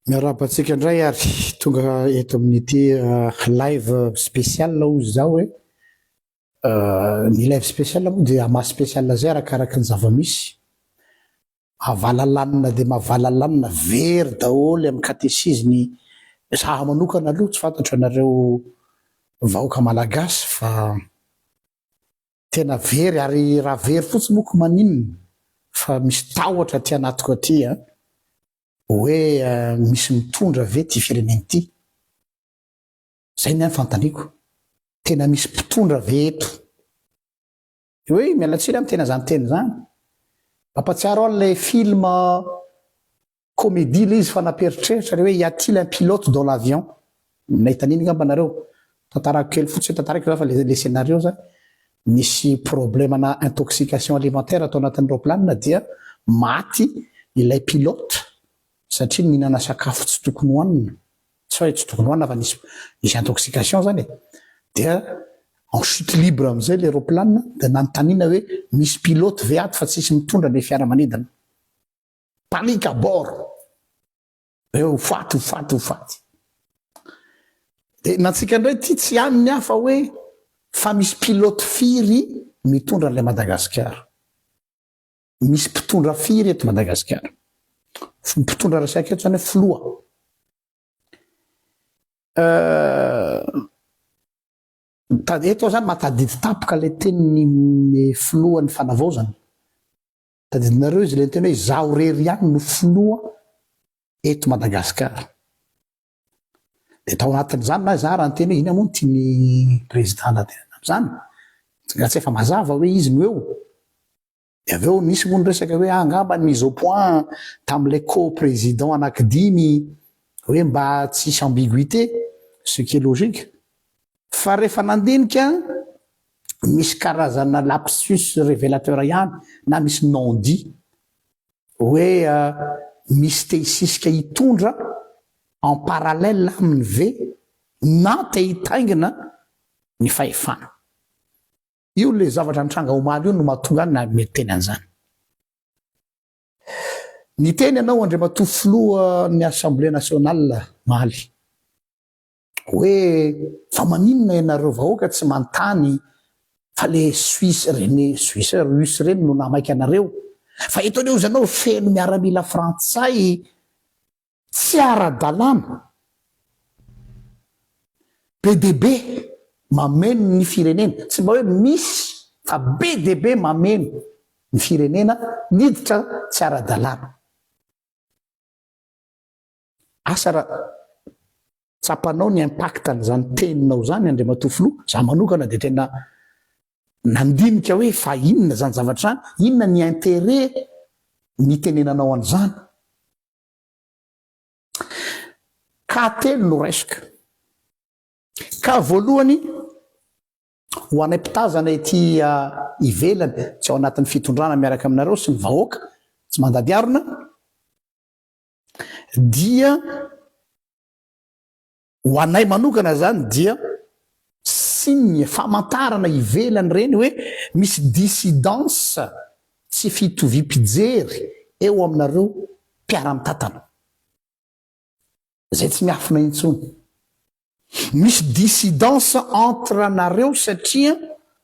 Miarahaba antsika indray ary tonga eto amin'ity ah, live spécial hoy izaho hoe eh, ny live spécial moa dia maha spécial izay arakaraka ny zava-misy. Mavalalanina dia mavalalanina very daholo amin'ny katesizy ny saha manokana aloha tsy fantatro anareo vahoaka malagasy fa tena very ary raha very fotsiny moa ko maninona fa misy tahotra aty anatiko aty an! hoe misy mitondra ve ity firenena ity? Zay ny ahy fantaniako! Tena misy mpitondra ve eto? Oi, miala tsiny amin'ny tena izany teny izany. Mampatsiaro ahy ilay film comédie ilay izy fa nampiheritreritra ilay hoe y a-t-il un pilote dans l'avion? Nahita an'iny angamba nareo. Tantarako kely fotsiny, tantariko izany fa ilay ilay scénario izany, nisy problème-na intoxication alimentaire tao anatin'ny raoplanina dia maty ilay pilote satria nihinana sakafo tsy tokony hohanina. Tsy hay tsy tonoana fa nisy nisy intoxication zany e, dia en chute libre amizay ilay roplanina dia nanontaniana hoe misy pilote ve ato fa tsisy mitondra ilay fiaramanidina. Panique à bord! Hoe ho faty ho faty ho faty. Dia nantsika indray ity tsy hany ny hafa hoe fa misy pilote firy mitondra an'ilay Madagasikara. Misy mpitondra firy eto Madagasikara? Mpitondra resaka eto zany filoha. Eto zany matadidy tapoka ilay tenin'ny filohan'ny fanavaozana. Tadidinareo izy ilay teny hoe izaho rery ihany no filoha eto Madagasikara. de tao anatin'izany na zara ny teny hoe ina moa ny tian'ny président lahateny amin'izany raha tsy efa mazava hoe izy no eo de avy eo nisy moa ny resaka hoe angamba ny mise au point tamin'ilay co-président anankidimy hoe mba tsisy ambiguïté ce qui est logique fa rehefa nandinika misy karazana lapsus révélateur ihany na misy non dit Hoe misy te hisisika hitondra en parallèle aminy ve na te hitaingina ny fahefana. Io le zavatra nitranga omaly io no mahatonga ahy niteny an'izany. Niteny ianao Andriamatoa Filohan'ny Assemblée Nationale omaly. Hoe fa maninona ianareo vahoaka tsy manontany fa le suisse reny suisse russe reny no namaika anareo fa eto anie ozy anao feno miaramila frantsay tsy ara dalàna be dia be mameno ny firenena tsy mba hoe misy fa be dia be mameno ny firenena niditra tsy ara dalàna. Asa raha tsapanao ny impact an'izany teninao izany Andriamatoa Filoha, za manokana dia tena nandinika hoe fa inona izany zavatra izany, inona ny interet nitenenanao an'izany. Cas telo no raisiko. Cas voalohany, ho anay mpitazana ety ivelany, tsy ao anatin'ny fitondrana miaraka aminareo sy ny vahoaka tsy mandady harona, dia ho anay manokana zany dia signe, famantarana ivelany reny hoe misy dissidence, tsy fitoviam-pijery eo aminareo mpiara-mitantana. Zay tsy miafina intsony. Misy dissidence entre nareo satria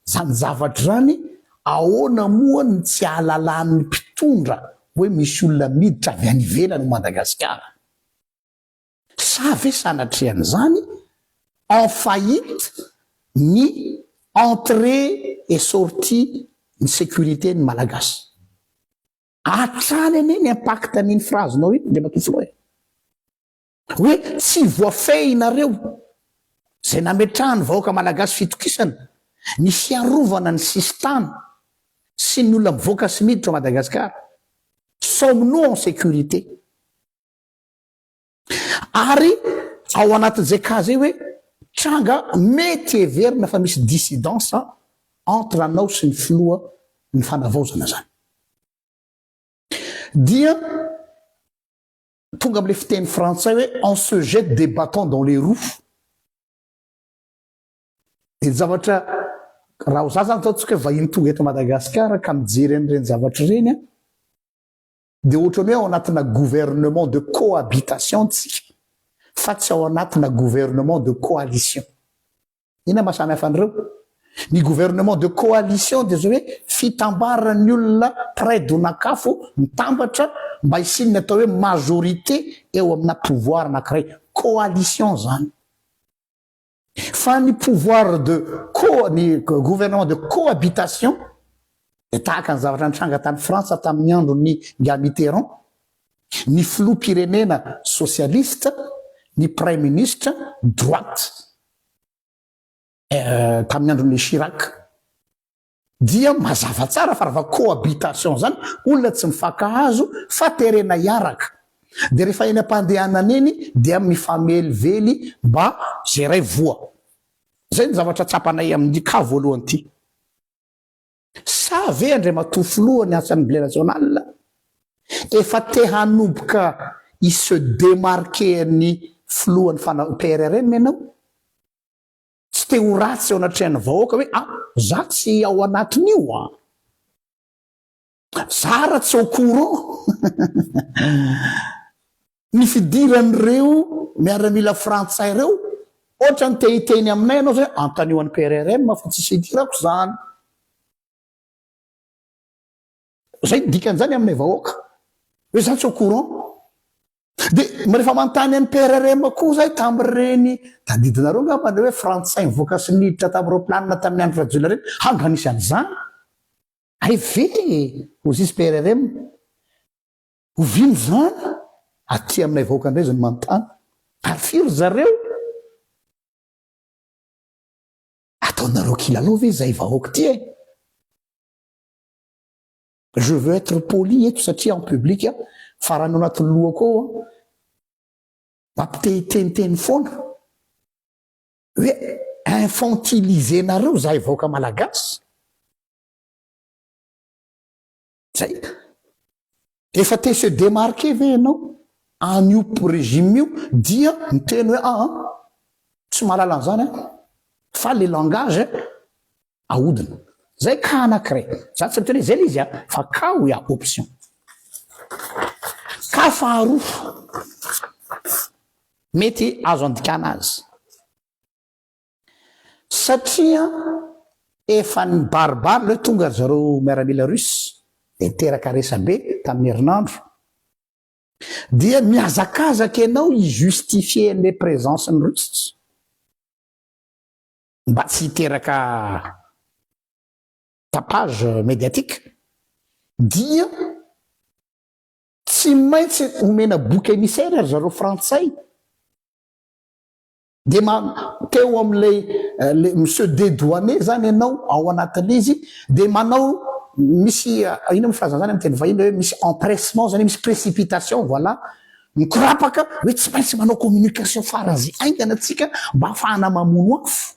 zany zavatra zany ahoana moa ny tsy ahalalan'ny mpitondra hoe misy olona miditra avy any ivelany Madagasikara? Sa ve sanatrehan'izany en faillite ny entrée et sortie ny sécurité ny Malagasy? Hatrany anie ny impact an'iny phrase-nao iny Andriamatoa Filoha e! Hoe tsy voafehinareo izay nametrahan'ny vahoaka malagasy fitokisana ny fiarovana ny sisin-tany sy ny olona mivoaka sy miditra ao Madagasikara. Sommes-nous en sécurité? Ary ao anatin'izay cas izay hoe tranga mety heverina fa misy dissidence entre anao sy ny filoha ny fanavaozana izany dia Tonga amle fiteny frantsay hoe on se jette des batons dans les roues. Dia ny zavatra raha ho za zany ataontsika hoe vahiny tonga eto Madagascar ka mijery an'ireny zavatra ireny an, dia ohatran'ny hoe ao anatina gouvernement de cohabitation tsika fa tsy ao anatina gouvernement de coalition. Inona maha samy hafa an'ireo? Ny gouvernement de coalition dia izao hoe fitambaran'ny olona mpiray donak'afo mitambatra mba hisian'ny atao hoe majorité eo amina pouvoir anankiray. Coalition izany. Fa ny pouvoir de co, ny gouvernement de cohabitation dia tahaka ny zavatra nitranga tany Frantsa tamin'ny andron'ny Nga Mitterrand, ny filoham-pirenena socialiste, ny praiminisitra droite. tamin'ny andron'ilay Chirac dia mazava tsara fa raha cohabitation zany olona tsy mifankahazo fa terena hiaraka dia rehefa eny am-pandehanana eny dia mifamelively mba ze ray voa. Zay ny zavatra tsapanay amin'ity cas voalohany ity. Sa ve Andriamatoa Filoha ny Assemblée Nationale efa te hanomboka hi se démarquer an'ny Filohan'ny fana PRRM ianao? Tsy te ho ratsy eo anatrehan'ny vahoaka hoe ah za tsy ao anatin'io an! Za ara tsy au courant! Ny fidiran'ireo miaramila frantsay ireo, ohatrany te hiteny aminay ianao izay hoe antanio an'i PRRM fa tsisy hidirako izany. Izay ny dikan'izany aminay vahoaka, hoe izaho tsy au courant. Dia mba rehefa manontany an'i PRRM koa izahay tamin'ireny tadidinareo angamba ilay hoe frantsay nivoaka sy niditra tamin'ny raoplanina tamin'ny andro Rajoelina ireny, hany raha nisy an'izany. Hay ve ho zisy PRRM? Oviana izany? Aty aminay vahoaka indray izany manontany ary firy ry zareo? Ataonareo kilalao ve izahay vahoaka ity e? Je veux être poli eto satria en public fa raha ny ao anatin'ny lohako ao mampitehiteniteny foana hoe infantiliser-nareo izahay vahoaka malagasy. Zay. Efa te se demarquer ve ianao an'io regime io dia miteny hoe aa tsy mahalala an'izany aho fa le langage ahodina. Zay cas anankiray. Za tsy miteny hoe zay le izy an fa cas où il y a option. Cas faharoa mety azo andikana azy. Satria efa nibaribary leo tonga ry zareo miaramila russe dia niteraka resabe tamin'ny herinandro dia mihazakazaka ianao hi justifier an'ilay présence ny russe mba tsy hiteraka tapage médiatique dia tsy maintsy omena bouc émissaire ry zareo frantsay Dia ma, teo amin'ilay le monsieur dedouané izany ianao ao anatin'ilay izy, dia manao misy inona moa frazan'izany amin'ny teny vahiny hoe misy empressement izany hoe misy précipitation voilà, mikorapaka hoe tsy maintsy manao communication faran'ny izay haingana tsika mba hahafahana mamono afo.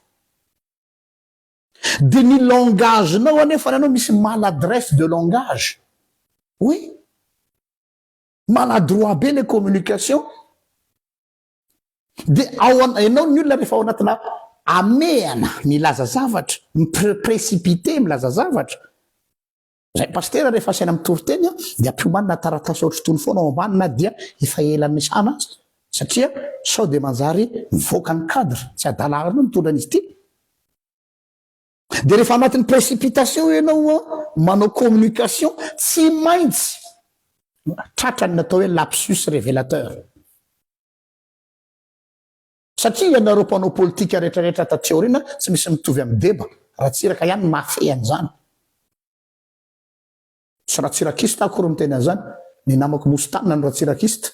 Dia ny langage-nao anefa ianao misy maladresse de langage. Oui, maladroit be ilay communication. Dia ao an, ianao ny olona rehefa ao anatina amehana milaza zavatra, mi-précipiter milaza zavatra, Zay Pasitera rehefa asaina mitory teny an, dia ampiomanina taratasy ohatry itony foana ao ambany na dia efa ela niasana aza, satria sao dia manjary mivoaka ny cadre, tsy adala arina io mitondra an'izy ity. Dia rehefa anatin'ny précipitation ianao an, manao communication, tsy maintsy tratra ny natao hoe lapsus révélateur. Satria ianareo mpanao politika rehetrarehetra taty aoriana, tsy misy mitovy amin'i Deba, Ratsiraka ihany no mahafehy an'izany. Tsy Ratsirakista aho akory miteny an'izany, ny namako nosy tanana no Ratsirakista.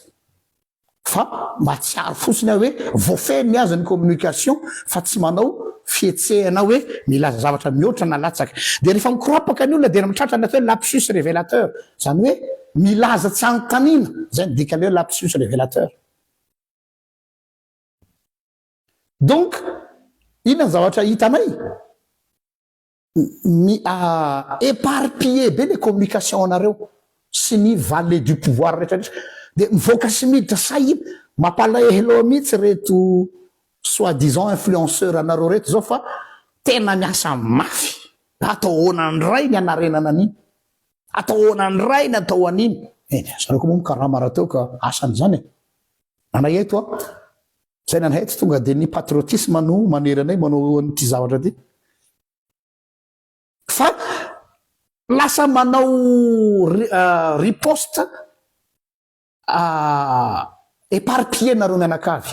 Fa mahatsiaro fotsiny aho hoe voafehy ny azy ny communication fa tsy manao fihetsehana hoe milaza zavatra mihoatra na latsaka. Dia rehefa mikorapaka ny olona dia mitratra ny atao hoe lapsus revelateur, izany hoe milaza tsy anontaniana, izay no dikan'ilay hoe lapsus revelateur. Donc, inona ny zavatra hitanay? Mi eparpiller be le communication anareo sy ny valet du pouvoir rehetra rehetra de mivoaka sy miditra sahy iny mapalahelo mitsy reto soit disant influenceur anareo reto zao fa tena miasa mafy atao ahoana ndray ny hanarenana an'iny atao ahoana ndray ny atao an'iny eh zareo ko moa mikarama rahateo ka asany zany e nana eto a Saina anay tsy tonga dia ny patriotisme no manery anay manao an'ity zavatra ity fa lasa manao riposte éparpillé nareo mianakavy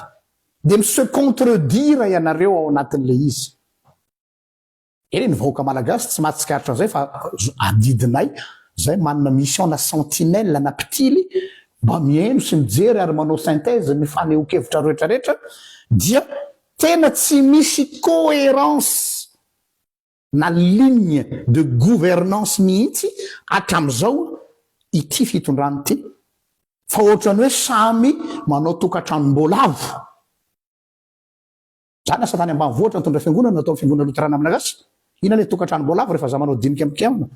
dia mi se contredire ianareo ao anatin'ilay izy. Eny ny vahoaka malagasy tsy mahatsikaritra an'izay fa adidinay izay manana mission na sentinelle na mpitily mba mihaino sy mijery ary manao synthèse ny fanehoan-kevitra rehetra rehetra dia tena tsy misy coherence na ligne de gouvernance mihitsy hatramin'izao ity fitondrana ity fa ohatran'ny hoe samy manao tokantranom-boalavo. Za lasa tany ambanivohitra nitondra fiangonana natao fiangonana loterana malagasy, ina le tokantrano boalavo refa za manao dinika mpikiaona?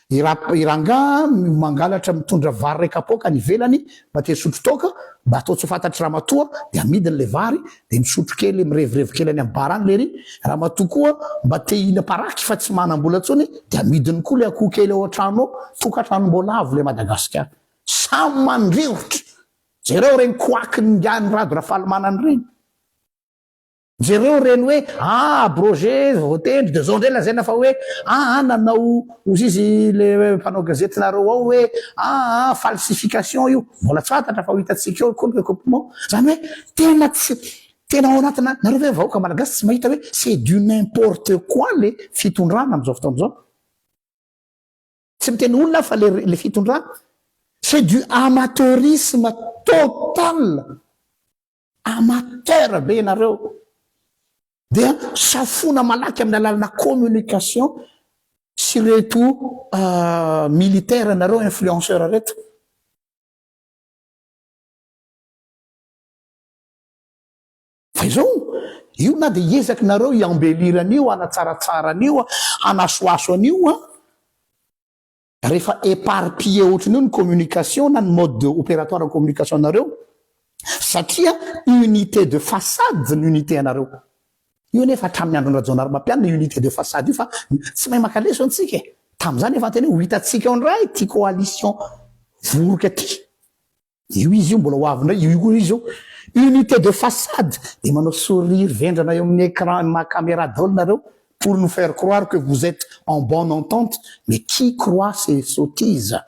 I ra i rangaha mangalatra mitondra vary ray kapoaka any ivelany mba te hisotro toaka mba atao tsy ho fantatry ramatoa de amidiny le vary de misotro kely mirevirevy kely any am bar any lery ramatoa koa mba te hihina paraky fa tsy manam bola tsony de amidiny koa le akoho kely ao antrano ao, tokantranom boalavo le madagasikara samy mandrirotra, jereo reny koakin ingahy ny rado rafalimanana reny. Jereo ireny hoe ah abrogé voatendry de zao ndray lazaina fa hoe ah ah nanao ozy izy le mpanao gazety nareo ao hoe ah ah falsification io mbola tsy fantatra fa ho hitantsika eo koa ny recoupement zany hoe tena tsy tena ao anatina nareo ve vahoaka malagasy tsy mahita hoe c'est du n'importe quoi le fitondrana amzao fotoana zao tsy miteny olona aho fa le le fitondrana c'est du amateurisme total Amateur be ianareo dia safoina malaky amin'ny alalana communication sy reto militaire nareo influenceur reto. Fa izao io na dia hiezaky nareo i embellir an'io hanatsaratsara an'io hanasoaso an'io an. Rehefa éparpillé ohatran'io ny communication na ny mode opératoire ny communication anareo satria unité de façade ny unité anareo. Io anefa hatramin'ny andron'i Rajaonarimampianina io unité de façade io fa tsy mahay maka leso antsika e! Tamin'izany efa niteny hoe ho hitantsika ao indray ity coalition voroka ity. Io izy io mbola ho avy indray, io koa izy io. Unité de façade, dia manao sourire vendrana eo amin'ny écran ny maha caméra daholo nareo pour nous faire croire que vous etes en bonne entente, mais qui croit ces sottises?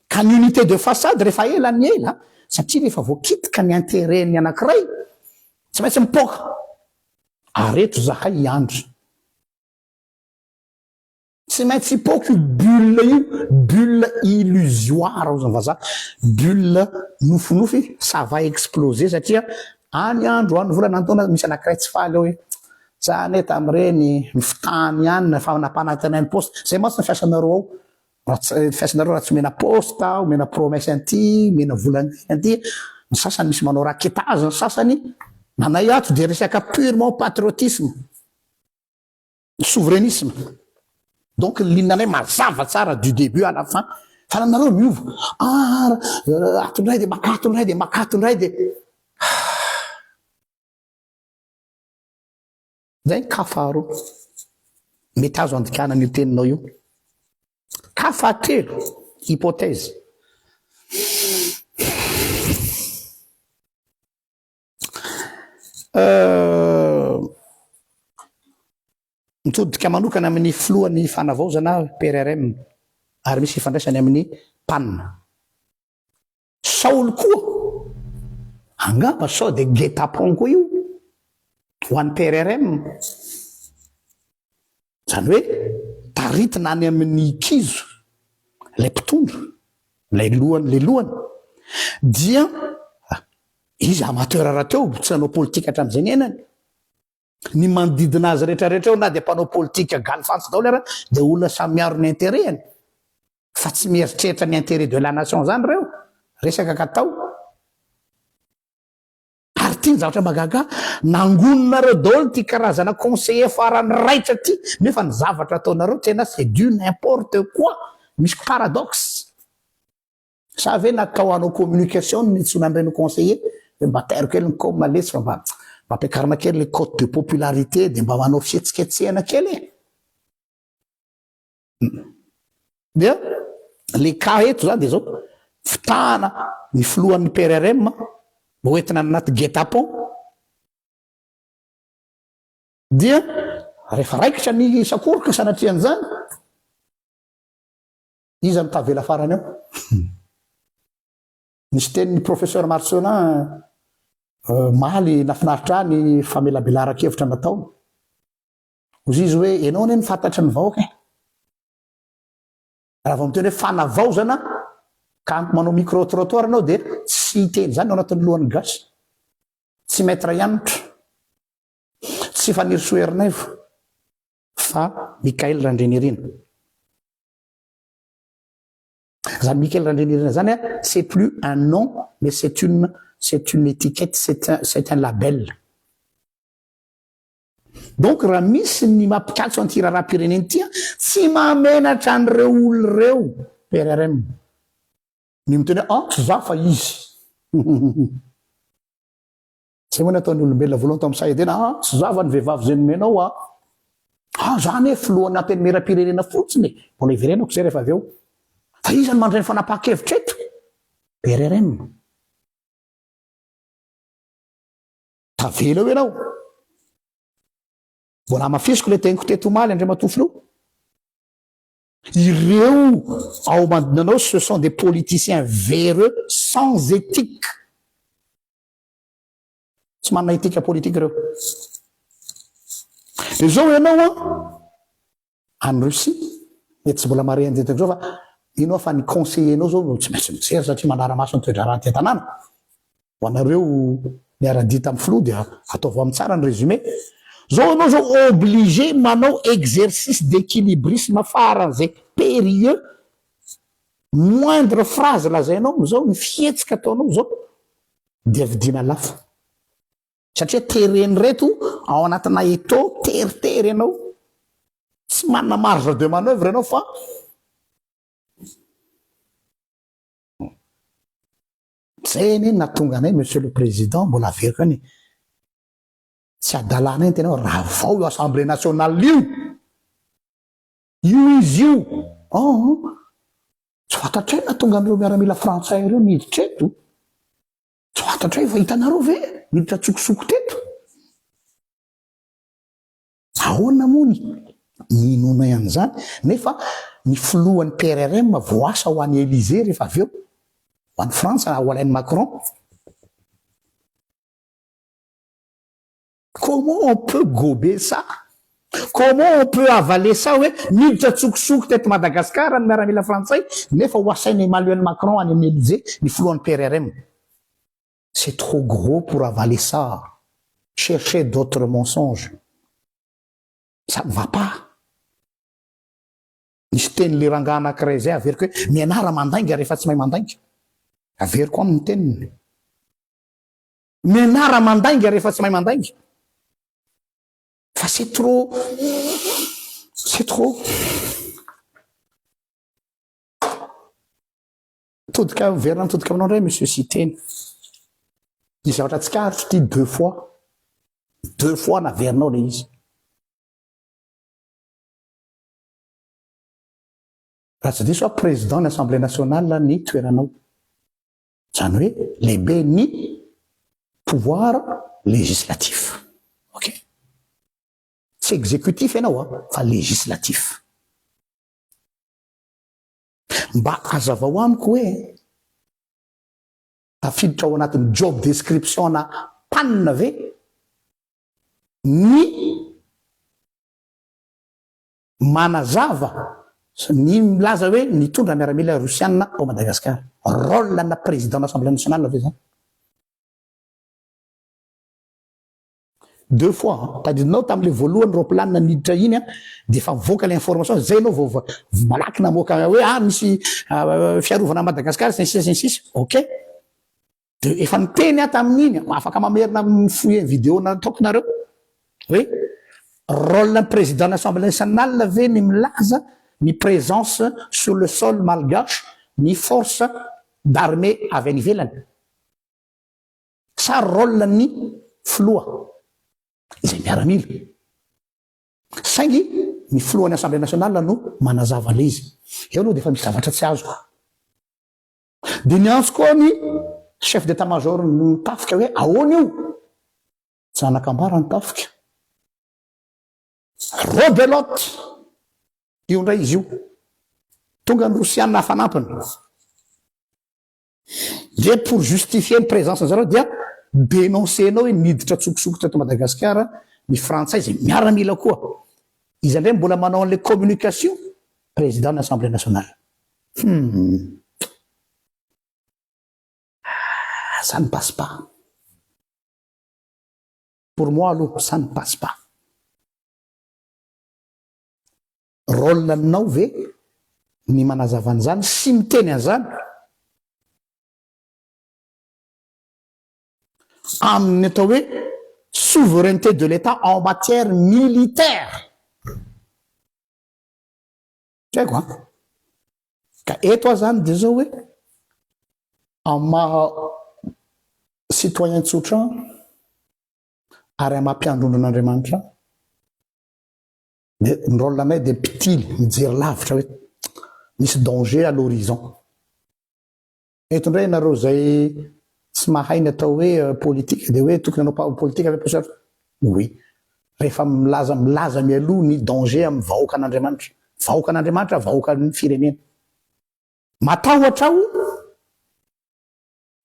Ka ny unité de façade rehefa ela ny ela, satria rehefa voakitika ny intérêt ny anankiray, tsy maintsy mipoaka. Ary eto izahay hiandry. Tsy maintsy hipoaka io bulle io, bulle illusoire hozy ny vazaha, bulle nofinofy, ça va exploser satria any andro, any volana, any taona misy anankiray tsy faly eo hoe za anie tamin'ireny fitany ihany ny fanapanantenain'ny poste, izay mantsy ny fiasanareo ao, raha tsy, ny fiasanareo raha tsy omena poste, omena promesse an'ity, omena vola an'ity, an'ity, ny sasany misy manao rackettage, ny sasany, ny anay ato dia resaka purement patriotisme. Souverainisme. Donc lignanay mazava tsara du début à la fin. Fa nareo miova. Ah, ato indray dia maka ato indray dia maka ato indray dia. Zay ny cas faharoa. Mety azo andikana an'io teninao io. Cas fahatelo, hypothèse. Mitodika manokana amin'ny filohan'ny fanavaozana PRRM ary misy ifandraisany amin'ny pan. Saoly koa, angamba sao dia guet-apens koa io ho an'ny PRRM. Izany hoe taritina any amin'ny kizo ilay mpitondra, ilay lohany, ilay lohany dia izy amateur rahateo, tsy nanao politika hatramin'izay niainany. Ny manodidina azy rehetra rehetra eo na dia mpanao politika galifatsy daholo ary dia olona samy miaro ny intérêt-ny fa tsy mieritreritra ny intérêt de la nation izany ireo, resaka katao. Ary ity ny zavatra mahagaga, nangoninareo daholo ity karazana conseiller farany raitra ity, nefa ny zavatra ataonareo tena c'est du n'importe quoi, misy paradoxe. Sa ve natao hanao communication ny tsy nandreny conseiller, hoe mba tairo kely ny com lesy fa mba mba ampiakarina kely le cote de popularité dia mba manao fihetsiketsehana kely e. Dia le cas eto zany dia zao, fitahana ny filohan'ny PRRM ho entina any anaty guet-apens, dia rehefa raikitra ny sakoroka sanatrian'izany, iza no tavela farany ao? Nisy tenin'ny professeur Marcelin omaly nafinaritra ahy ny famelabelaran-kevitra nataony. Ozy izy hoe enao anie no fantatry ny vahoaka e. Raha vao miteny hoe fanavaozana ka manao micro trottoir ianao dia tsy hiteny izany ao anatin'ny lohan'ny gasy. Tsy maître Hanitra, tsy Fanirisoa Ernaivo fa Michael Randrianirina. Izany Michael Randrianirina izany a, c'est plus un nom mais c'est une c'est une étiquette, c'est un c'est un label. Donc raha misy ny mampikatso an'ity raharaham-pirenena ity an, tsy mahamenatra an'ireo olona ireo PRRM ny miteny hoe an tsy za fa izy. Zay moa nataon'ny olombelona voalohany tao amin'ny Sahedena, an tsy za fa ny vehivavy zay nomenao an. An za anie filohan'ny antenimieram-pirenena fotsiny e. Mbola hiverenako izay rehefa avy eo. Fa iza no mandray ny fanapahan-kevitra eto? PRRM. Tavela eo ianao. Mbola hamafisiko ilay teniko teto omaly Andriamatoa Filoha. Ireo ao Ambandonanao ce sont des politiciens véreux sans éthique. Tsy manana éthique politique ireo. Dia izao ianao an, Any Russie dia tsy mbola marehan'i Jentex zao fa ino aho fa ny conseiller-nao zao no tsy maintsy mijery satria manara-maso ny toe-draharaha aty an-tanàna. Ho anareo niara-dia tamin'ny filoha dia ataovy amin'ny tsara ny résumé. Zao ianao zao obligé manao exercice d'équilibrisme faran'izay périlleux, moindre phrase lazainao amin'izao, ny fihetsika ataonao izao dia vidiana lafo. Satria tereny reto ao anatina eto teritery ianao tsy manana marge de manoeuvre ianao fa zay anie ny natonga anay monsieur le président mbola averiko any tsy adalana iny tena hoe ravao io assemblée nationale io io izy io aa tsy fantatray natonga an'ireo miaramila frantsay ireo niditra eto Tsy fantatro hoe efa hitanareo ve miditra an-tsokosoko teto? Ahoana moa ny inoanay an'izany nefa ny filohan'ny PRRM voasa ho any Elysée rehefa avy eo ho any Frantsa ho alain'i Macron? Comment on peut gober ça? Comment on peut avaler ça hoe miditra antsokosoko teto Madagascar ny miaramila frantsay nefa ho asaina Emmanuel Macron any amin'ny Elysee ny filohan'ny PRRM? C'est trop gros pour avaler ça. Cherchez d'autres mensonges. Ça ne va pas. Nisy tenin'ilay rangahy anankiray izay averiko hoe mianara mandainga rehefa tsy mahay mandainga. Averiko aminy ny teniny. Mianara mandainga rehefa tsy mahay mandainga fa c'est trop c'est trop mitodika miverina mitodika aminao indray monsieur Siteny ny zavatra tsikaritro ity deux fois deux fois naverinao le izy raha tsy diso a président ny assemblée nationale ny toeranao Izany hoe lehibe ny pouvoir législatif. Ok? Tsy exécutif ianao a, fa législatif. Mba hazavao amiko hoe tafiditra ao anatin'ny job description-na pan ve ny Manazava ny milaza hoe nitondra miaramila Rosiana ao Madagasikara. Rôle ana président na Assemblée nationale ve zany? Deux fois an, tadidinao tamle voalohany roplanina niditra iny an de efa mivoaka le information zay enao vao malaky namoaka hoe ah misy fiarovana Madagascar sy ny sisa sy ny sisa ok. De efa niteny aho tamin'iny, afaka mamerina amin'ny fouiller vidéo nataoko nareo, hoe rôle-n'ny président-n'ny Assemblée nationale ve ny milaza ny présence sur le sol malgache ny force d'armée avy any ivelany? Sa rôle-n'ny filoha izay miaramila? Saingy ny filohan'ny Assemblée nationale no manazava an'ilay izy. Eo aloha dia efa misy zavatra tsy azoko. Dia niantso koa ny chef d'état major ny tafika hoe ahoana io? Zanakambara ny tafika. Rebelote! Io indray izy io. Tonga ny rosianina hafanampiny. Dia pour justifier ny présence zareo dia dénoncer-nao hoe niditra an-tsokosokitra eto Madagasikara ny frantsay izay miaramila koa. Iza indray mbola manao an'ilay communication? Président ny assemblée nationale. Humm. Ça ne passe pas. Pour moi aloha ça ne passe pas. Rôle nao ve ny manazava an'izany sy miteny an'izany amin'ny atao hoe souveraineté de l'Etat en matière militaire. Tsy haiko an. Ka eto aho zany dia zao hoe amin'ny maha citoyen tsotra ahy ary amin'ny maha mpiandrondron'Andriamanitra ahy dia ny rôle anay dia mpitily, mijery lavitra hoe misy danger à l'horizon. Eto indray ianareo izay tsy mahay ny atao hoe politika dia hoe tokony hanao politika ve Paosy Atra? Oui. Rehefa milaza milaza mialoha ny danger amin'ny vahoakan'Andriamanitra. Vahoakan'Andriamanitra, vahoakan'ny firenena. Matahotra aho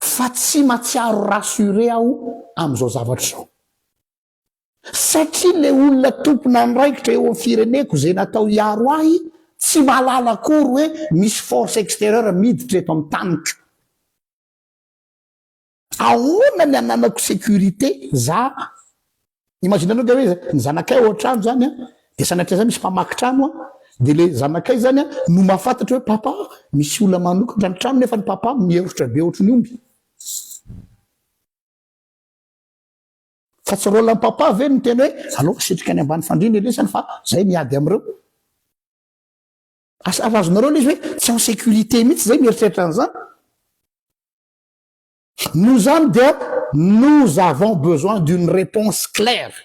fa tsy matsiaro rassurer aho amin'izao zavatra izao. Satria le olona tompon'andraikitra eo am fireneko ze natao hiaro ahy tsy mahalala akory hoe misy force extérieure miditra eto am taniko. Ahoana ny ananako sécurité za? Imagine anao nga hoe ny zanakay ao antrano zany an de sanatria za misy mpamaky trano an de le zanakay zany an no mahafantatra hoe papa misy olona manokatra ny trano nefa ny papa miherotra be ohatry ny omby. Fa tsy rôle an'i papa ve ny miteny hoe alao asitrika any ambany fandriana ny lesany fa zay miady amin'ireo. Asa ary azonareo ilay izy hoe tsy en sécurité mihitsy zay mieritreritra an'izany. Noho izany dia nous avons besoin d'une réponse claire.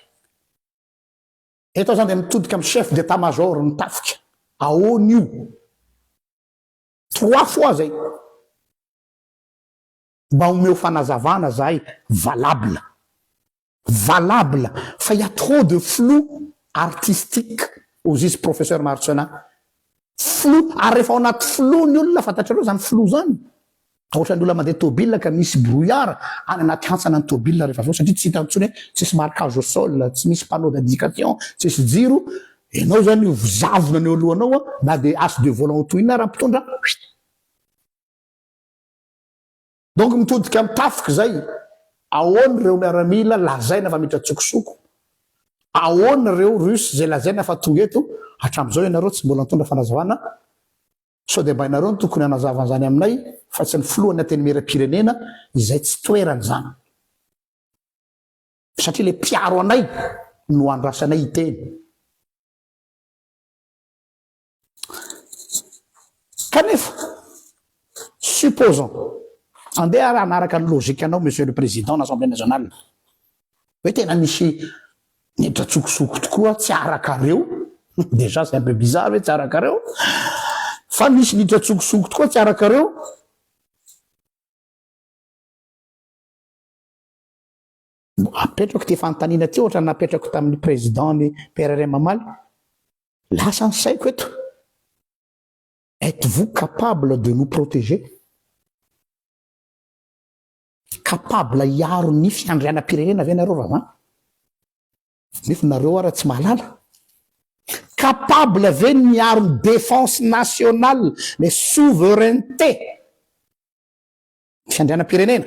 Eto aho zany dia mitodika amin'ny chef d'état major ny tafika. Ahoana io? Trois fois zay. Mba omeo fanazavana zahay valable. Valable fa il y a trop de flou artistique hozy izy Professeur Marcellin. Flou ary rehefa ao anaty flou ny olona fantatrareo zany flou zany dia ohatran'ny olona mandeha tôbila ka misy brouillard any anaty hantsana ny tôbila rehefa avy eo satria tsy hitany intsony hoe tsisy marquage au sol, tsy misy panneau d'indication, tsisy jiro, ianao zany io zavona ny eo alohanao na dia as de volant ho tohinina ara mpitondra. Donc mitodika am tafika zay, aona reo miaramila lazaina fa miditra tsokosoko, aona reo russe zay lazaina fa tonga eto, atramzao ianareo tsy mbola nitondra fanazavana, sao dia mba ianareo no tokony hanazava anzany aminay fa tsy ny filohan'ny antenimieram pirenena, izay tsy toerany zany, satria le mpiaro anay no andrasanay hiteny. Kanefa, supposons, andeha ary hanaraka ny logique anao Monsieur le Président n'Assemblée Nationale, hoe tena misy nidratsokosoko tokoa tsy arakareo, déjà c'est un peu bizarre hoe tsy arakareo, fa misy nidratsokosoko tokoa tsy arakareo, Apetrako ity fanontaniana ity ohatra ny napetrako tamin'ny président ny PRRM omaly. Lasa ny saiko eto. Êtes-vous capable de nous protéger? capable hiaro ny fiandrianam-pirenena ve nareo raha zany nefa nareo ara tsy mahalala capable ve ny hiaro ny défense nationale le souveraineté fiandrianam-pirenena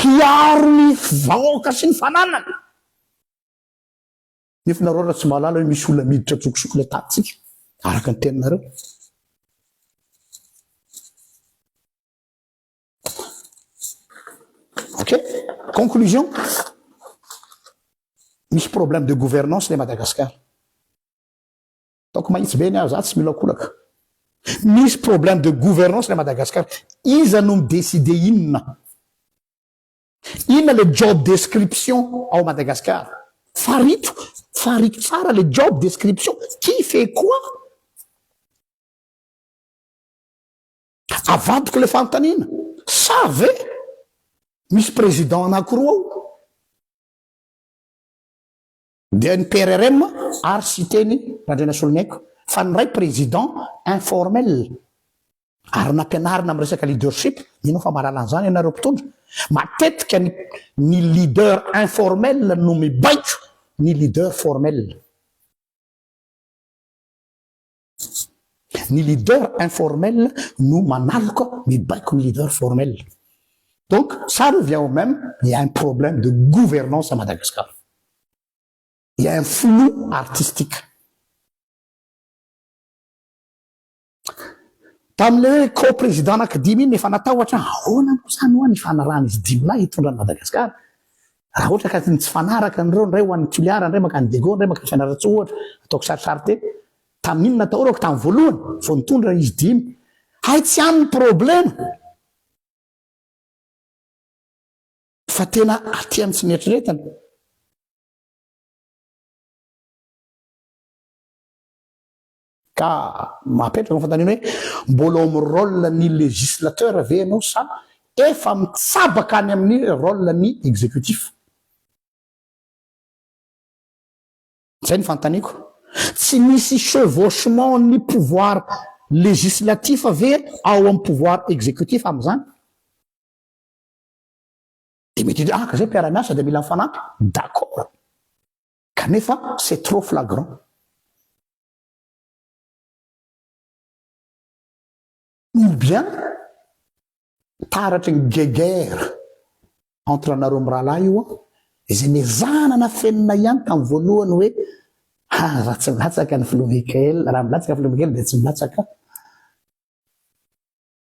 Hiaro ny vahoaka sy ny fananany. Nefa ianareo raha tsy mahalala hoe misy olona miditra an-tsokosoko ilay tahantsika, araka ny teninareo. Ok? Conclusion. Misy problème de gouvernance ilay Madagascar. Ataoko mahitsy be ny ahy, za tsy miolakolaka. Misy problème de gouvernance lay Madagascar, iza no mi décider inona? Inona le job description ao Madagascar? Farito, fariko tsara le job description, qui fait quoi? Avadiko le fanontaniana, sa ve misy président anakiroa ao? Dia ny PRRM ary Siteny Randrianasoloniaiko fa ny ray président informel ary nampianarina amin'ny resaka leadership, mino aho fa mahalala an'izany ianareo mpitondra, matetika ny ny leader informel no mibaiko ny leader formel. Ny leader informel no manaloka ny baikon'ny leader formel. Donc, ça revient au même, il y a un problème de gouvernance à Madagascar. Il y a un flou artistique. Tamin'ilay hoe co-président anankidimy iny efa natahotra, ahoana moa izany ho'a ny fanarahan'izy dimy lahy hitondra an'i Madagascar? Raha ohatra ka tsy mifanaraka an'ireo, indray ho an'i Toliara, indray mankany Diego, indray mankany Fianarantsoa ohatra, ataoko sarisary teny. Tamin'iny natahorako tamin'ny voalohany, vao nitondra izy dimy. Hay tsy any ny problema! Fa tena aty amin'ny tsy mieritrereta. Ka mapetraka ny fanontaniana hoe, mbola ao amin'ny rôle ny législateur ve ianao sa efa mitsabaka any amin'ny rôle ny exécutif? Zay ny fanontaniako. Tsy misy chevauchement ny pouvoir législatif ve ao amin'ny pouvoir exécutif amin'izany? Dia mety hiditra, ah ka zay mpiara-miasa dia mila mifanampy, d'accord. Kanefa c'est trop flagrant. Ou bien taratry ny guéguerre entre anareo mirahalahy io an, izay nezahana nafenina ihany tamin'ny voalohany hoe ha raha tsy milatsaka ny filoha Mickael, raha milatsaka filoha Mickael dia tsy milatsaka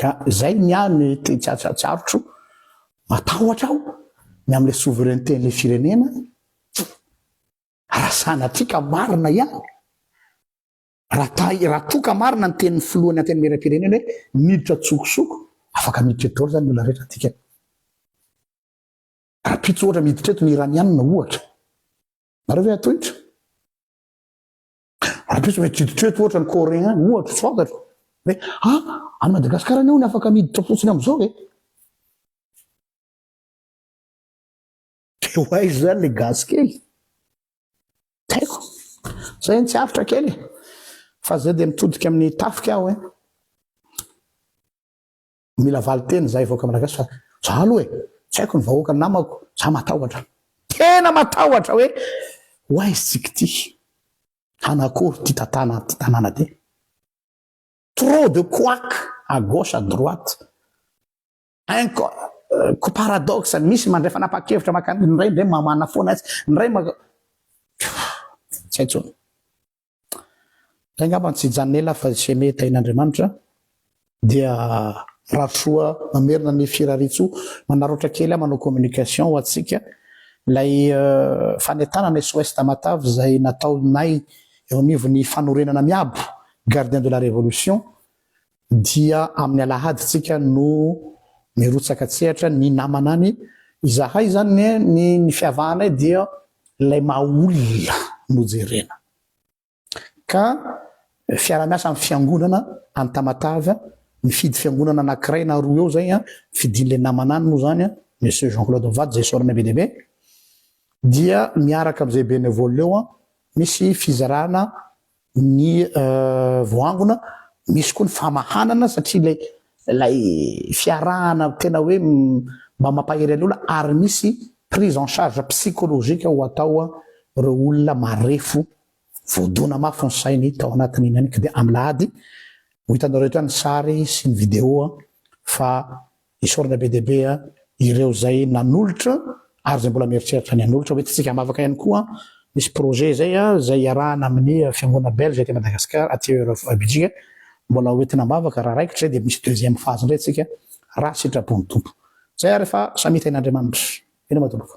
Ka zay ny ahy mety tsy atsatsarotro, matahotra aho ny amle souveraineté ny firenena, raha sanatria ka marina ihany, raha raha toa ka marina ny tenin'ny filohan'ny antenimieram-pirenena hoe miditra antsokosoko, afaka miditra eto daholo zany ny olona rehetra dikany. Rahampitso ohatra miditra eto ny iranianina ohatra, nareo ve hatohitra? Ampitso ve kiditra eto ohatra ny coréen ohatra tsy fantatro hoe a any Madagasikara anie hono afaka miditra fotsiny amizao e de ho aiza zany le gasy kely taiko zay tsy avotra kely fa zay de mitodika amin'ny tafika aho e Mila valinteny zahay vahoaka malagasy fa za aloha e, tsy haiko ny vahoaka namako, za matahotra. Tena matahotra hoe ho aiza isika ity? Hanakory ity tantana ity tanàna ity? Trop de couac à gauche à droite. Inco ko paradoxe, misy mandray fanapahan-kevitra makany, ny iray indray mamana foana atsy, ny iray maka. Tsy hay intsony. Zay ngamba no tsy janela fa ze mety ain'Andriamanitra dia Rasoa mamerina ny Firaritsoa manararaotra kely aho manao communication ho antsika lay fanentanana SOS Tamatave zay nataonay eo anivon'ny fanorenana miabo Gardien de la Révolution Dia amin'ny alahady tsika no mirotsaka tsehatra ny namana any, izahay izany anie ny ny fiavahanay dia ilay maha olona no jerena, ka fiarahamiasa amin'ny fiangonana any Tamatave an, mifidy fiangonana anankiray na roa eo zay an, fidin'ilay namana any moa zany an, Monsieur Jean Claude mivady zay sorona be dia be, dia miaraka amin'izay bénévole eo an, misy fizarana ny voaangona, misy koa ny famahanana satria ilay ilay fiarahana tena hoe mba mampahery an'olona ary misy prise en charge psychologique ho atao ireo olona marefo voadona mafy ny sainy tao anatin'iny ihany koa dia alahady ho hitanareo eto ihany ny sary sy ny vidéo fa Isaorana be dia be ireo izay nanolotra ary izay mbola mieritreritra ny hanolotra. Ho entintsika am-bavaka ihany koa, misy projet izay izay iarahana amin'ny fiangonana belge aty Madagascar, aty Belgique. Mbola ho entina am-bavaka raha raikitra izay dia misy deuxième phase indray isika raha sitrapon'ny Tompo. Izay ary fa samia tahin'Andriamanitra. Mino aho tompoko.